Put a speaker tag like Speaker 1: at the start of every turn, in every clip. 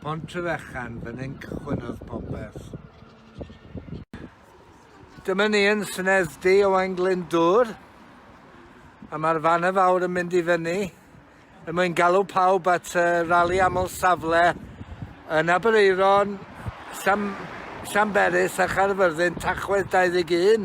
Speaker 1: Pontryfechan, fan hyn cychwynnodd popeth. Dyma ni yn Senedd Du Owain Glyndŵr, a mae'r fan y fawr yn mynd i fyny, er mwyn galw pawb at y rali aml safle yn Aberaeron, Llan, Llanberis a Chaerfyrddin, Tachwedd 21.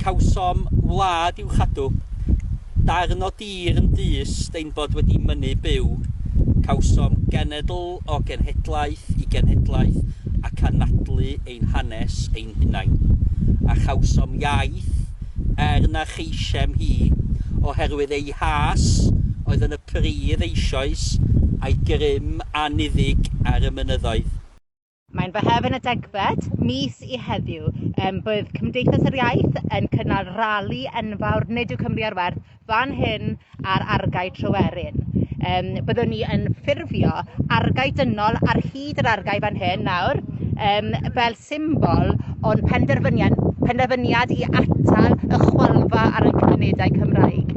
Speaker 1: Cawsom wlad i'w chadw. Darn o dir yn dys steinbod wedi mynnu byw. Cawsom genedl o genhedlaeth i genhedlaeth ac anadlu ein hanes ein hunain. A chawsom iaith, er na cheisem hi, oherwydd ei has oedd yn y pridd eisoes, a'i grym anniddig ar y mynyddoedd. Mae'n fy hef yn y degfed mis i heddiw. Um, bydd Cymdeithas yr Iaith yn cynnal rali enfawr Nid yw Cymru ar werth fan hyn ar argae Tryweryn. Um, byddwn ni yn ffurfio argae dynol ar hyd yr argae fan hyn nawr um, fel symbol o'n penderfyniad, penderfyniad i atal y chwalfa ar y cymunedau Cymraeg.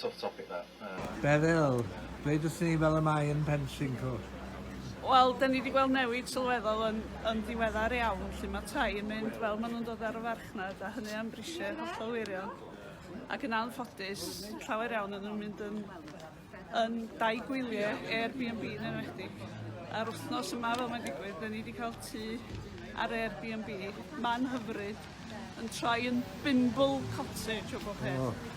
Speaker 1: tough topic that. Yy. Beryl, dweud wrthyn ni fel y mae yn Penllyn Cwt. Wel, da ni wedi gweld newid sylweddol yn, yn diweddar iawn, lle mae tai yn mynd fel maen nhw'n dod ar y farchnad, a hynny am brisiau hollol wirion. Ac yn anffodus, llawer iawn yn nhw'n mynd yn, yn dau gwyliau Airbnb yn enwedig. A'r wythnos yma fel mae'n digwydd, da ni wedi cael tu ar Airbnb, man hyfryd, yn troi yn bimble cottage o bob peth. Oh.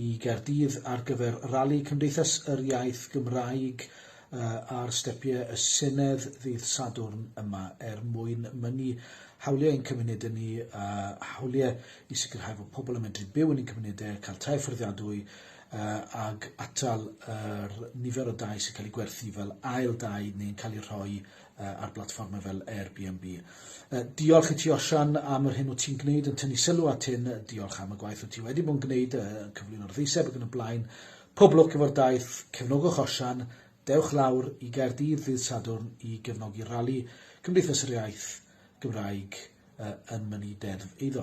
Speaker 1: i Gaerdydd ar gyfer Rali Cymdeithas yr Iaith Gymraeg ar stepiau y Senedd ddydd Sadwrn yma er mwyn mynnu hawliau ein cymunedau ni a hawliau i sicrhau fod pobl yn medru byw yn ein cymunedau, cael tai fforddiadwy ac atal yr nifer o dai sy'n cael eu gwerthu fel ail dai neu'n cael eu rhoi yy ar blatfforme fel Airbnb. Yy diolch i ti Osian am yr hyn wyt ti'n gwneud yn tynnu sylw at hyn, diolch am y gwaith wyt ti wedi bod yn gwneud yy yn cyflwyno'r ddeiseb ac yn y blaen. Pob lwc efo'r daith, cefnogwch Osian, dewch lawr i Gaerdydd ddydd Sadwrn i gefnogi rali Cymdeithas yr Iaith Gymraeg yy yn mynnu deddf eiddo.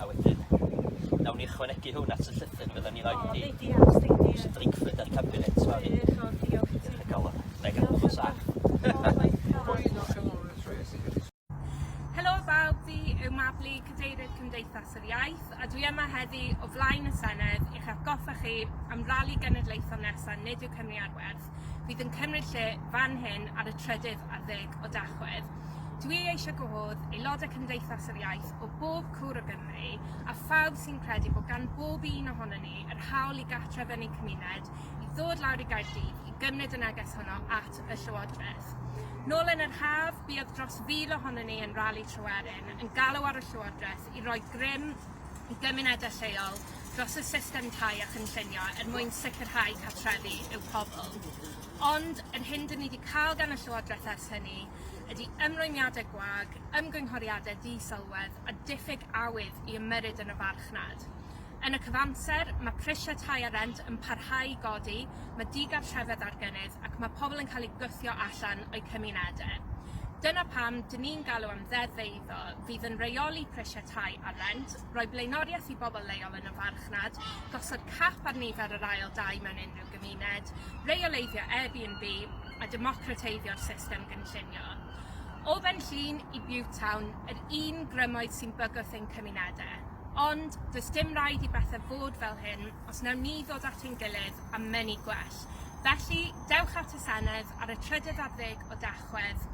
Speaker 1: A wedyn nawn ni ychwanegu hwn at y llythyr fyddan ni roid i... O reit diolch Steindy. ...Mister Drakeford a'r cabinet sori. Diolch o diolch i ti. Diolch o galon. Nai gadw fo'n saff. Helo bawb fi yw Mabli cadeirydd Cymdeithas yr Iaith a dwi yma heddi o flaen y Senedd i'ch atgoffa chi am rali genedlaethol nesa nid yw Cymru ar werth. Tachwedd fydd yn cymryd lle fan hyn ar y trydydd ar ddeg o Dachwedd. Dwi eisiau gwahodd aelodau Cymdeithas yr Iaith o bob cwr o Gymru a phawb sy'n credu bod gan bob un ohono ni yr hawl i gartref yn ein cymuned i ddod lawr i Gaerdydd i gymryd y neges honno at y Llywodraeth. Nôl yn yr haf, buodd dros fil ohono ni yn rali Tryweryn yn galw ar y Llywodraeth i roi grym i gymunedau lleol dros y system tai a chynllunio er mwyn sicrhau cartrefi i'w pobl. Ond yr hyn dyn ni wedi cael gan y Llywodraeth ers hynny ydy ymrwymiadau gwag, ymgynghoriadau ddi-sylwedd a diffyg awydd i ymyrryd yn y farchnad. Yn y cyfamser, mae prisiau tai a rent yn parhau i godi, mae digartrefedd ar gynnydd ac mae pobl yn cael eu gwthio allan o'u cymunedau. Dyna pam dyn ni'n galw am ddeddf eiddo fydd yn rheoli prisiau tai a rent, roi blaenoriaeth i bobl leol yn y farchnad, gosod cap ar nifer yr ail dai mewn unrhyw gymuned, reoleiddio Airbnb a democrateiddio'r system gynllunio. O Fenllyn i Butetown, yr un grymoedd sy'n bygwth ein cymunedau. Ond, does dim rhaid i bethau fod fel hyn os nawn ni ddod at ein gilydd a mynnu gwell. Felly, dewch at y Senedd ar y trydydd ar ddeg o Dachwedd. Tachwedd,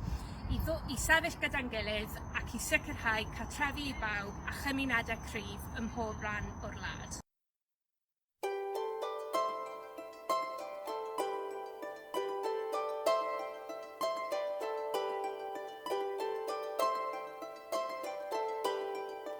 Speaker 1: i ddo- i sefyll gyda'n gilydd ac i sicrhau cartrefi i bawb a chymunedau cryf ym mhob rhan o'r wlad.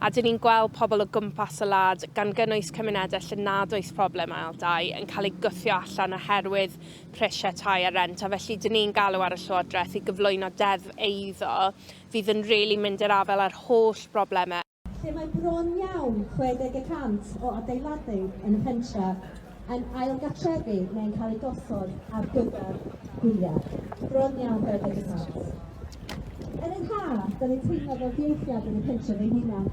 Speaker 1: a dyn ni'n gweld pobl o gwmpas y wlad, gan gynnwys cymunedau lle nad oes problem ail dai, yn cael eu gwthio allan oherwydd prisiau tai a rhent, a felly dyn ni'n galw ar y Llywodraeth i gyflwyno deddf eiddo fydd yn rili mynd i'r afael â'r holl broblemau. lle mae bron iawn 60 y cant o adeiladau yn y pentref. yn ailgartrefu neu'n cael eu gosod ar gyfer gwyliau. Bron iawn beth ydy plant. Yn yr haf, da ni'n teimlo fel dieithiad yn y pentref ein hunan.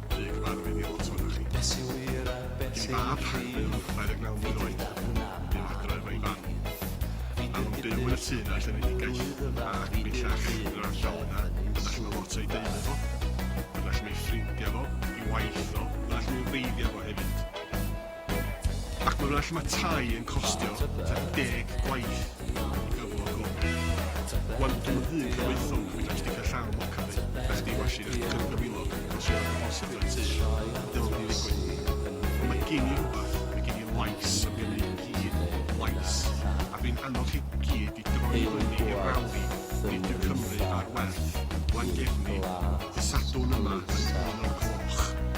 Speaker 1: Dwi wedi barfu ni lot ohonoch chi. Be sy'n wir a be sy'n ffug? Ei fab, Harbin, 29 mlwydd oed, bu'n adra efo'i fam. Maen nhw'n byw yn y tŷ yna lle fydd hi'n gaeth, ac bellach yn yr ardal yna, yna lle mae lot o'i deulu fo, yna lle mae ei ffrindiau fo, ei waith o, yna lle mae hi'n wreiddiau fo hefyd. Ac mae'n well mae tai yn costio tua deg gwaith i gyflog o. Wan dw fy hun cyfoethog yn mynd am sticio llaw moca fi, na chdi washi na chdi cymryd cyfilog os yw rhywbeth bosib dan tŷ, dylwn i ddigwydd. Ond mae gin i rhywbeth, mae gin i lais am gynnydd i gyd, lais, a fi'n annog chi gyd i droi fyny i'r rali, nid yw Cymru ar werth, Llangefni, ddydd Sadwrn yma yn un o'r gloch.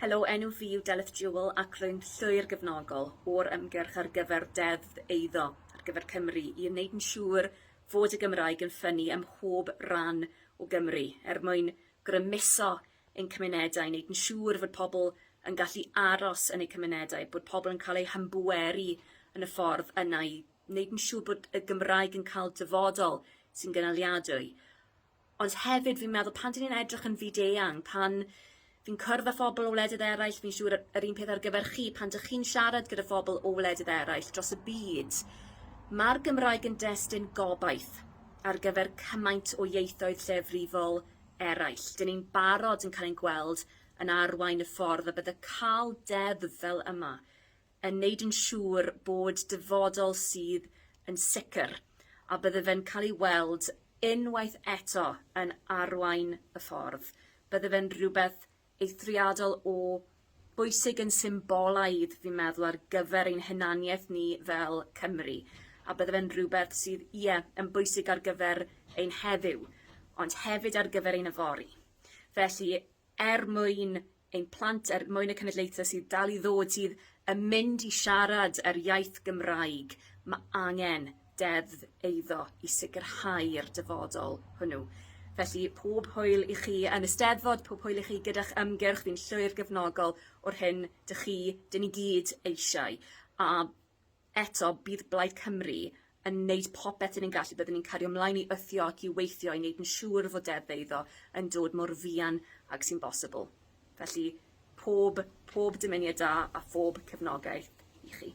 Speaker 1: Helo, enw fi yw Delyth Jewell ac rwy'n llwyr gefnogol o'r ymgyrch ar gyfer Deddf Eiddo ar gyfer Cymru i wneud yn siŵr fod y Gymraeg yn ffynnu ym mhob rhan o Gymru er mwyn grymuso ein cymunedau, wneud yn siŵr fod pobl yn gallu aros yn eu cymunedau, bod pobl yn cael eu hymbweru yn y ffordd yna i wneud yn siŵr bod y Gymraeg yn cael dyfodol sy'n gynaliadwy. Ond hefyd fi'n meddwl pan 'dyn ni'n edrych yn fyd-eang pan fi'n cwrdd â phobol o wledydd eraill fi'n siŵr y- yr un peth ar gyfer chi pan dych chi'n siarad gyda phobol o wledydd eraill dros y byd ma'r Gymraeg yn destun gobaith ar gyfer cymaint o ieithoedd lleiafrifol eraill. 'Dyn ni'n barod yn cael ein gweld yn arwain y ffordd a bydde ca'l deddf fel yma yn neud yn siŵr bod dyfodol sydd yn sicr a bydde fe'n cael ei weld unwaith eto yn arwain y ffordd, bydde fe'n rhywbeth eithriadol o bwysig yn symbolaidd fi'n meddwl ar gyfer ein hunaniaeth ni fel Cymry a bydde fe'n rhywbeth sydd ie yn bwysig ar gyfer ein heddiw ond hefyd ar gyfer ein yfory. Felly er mwyn ein plant, er mwyn y cenedlaethau sydd dal i ddod sydd yn mynd i siarad yr iaith Gymraeg, mae angen deddf eiddo i sicrhau'r dyfodol hwnnw. Felly, pob hwyl i chi yn y Steddfod, pob hwyl i chi gyda'ch ymgyrch, fi'n llwyr gefnogol o'r hyn dych chi, dyn ni gyd, eisiau. A Eto, bydd Blaid Cymru yn wneud popeth dyn ni'n gallu, byddwn ni'n cario mlaen i wthio ac i weithio i wneud yn siŵr fod Deddf Eiddo yn dod mor fuan ag sy'n bosibl. Felly, pob, pob dymuniad da a phob cefnogaeth i chi.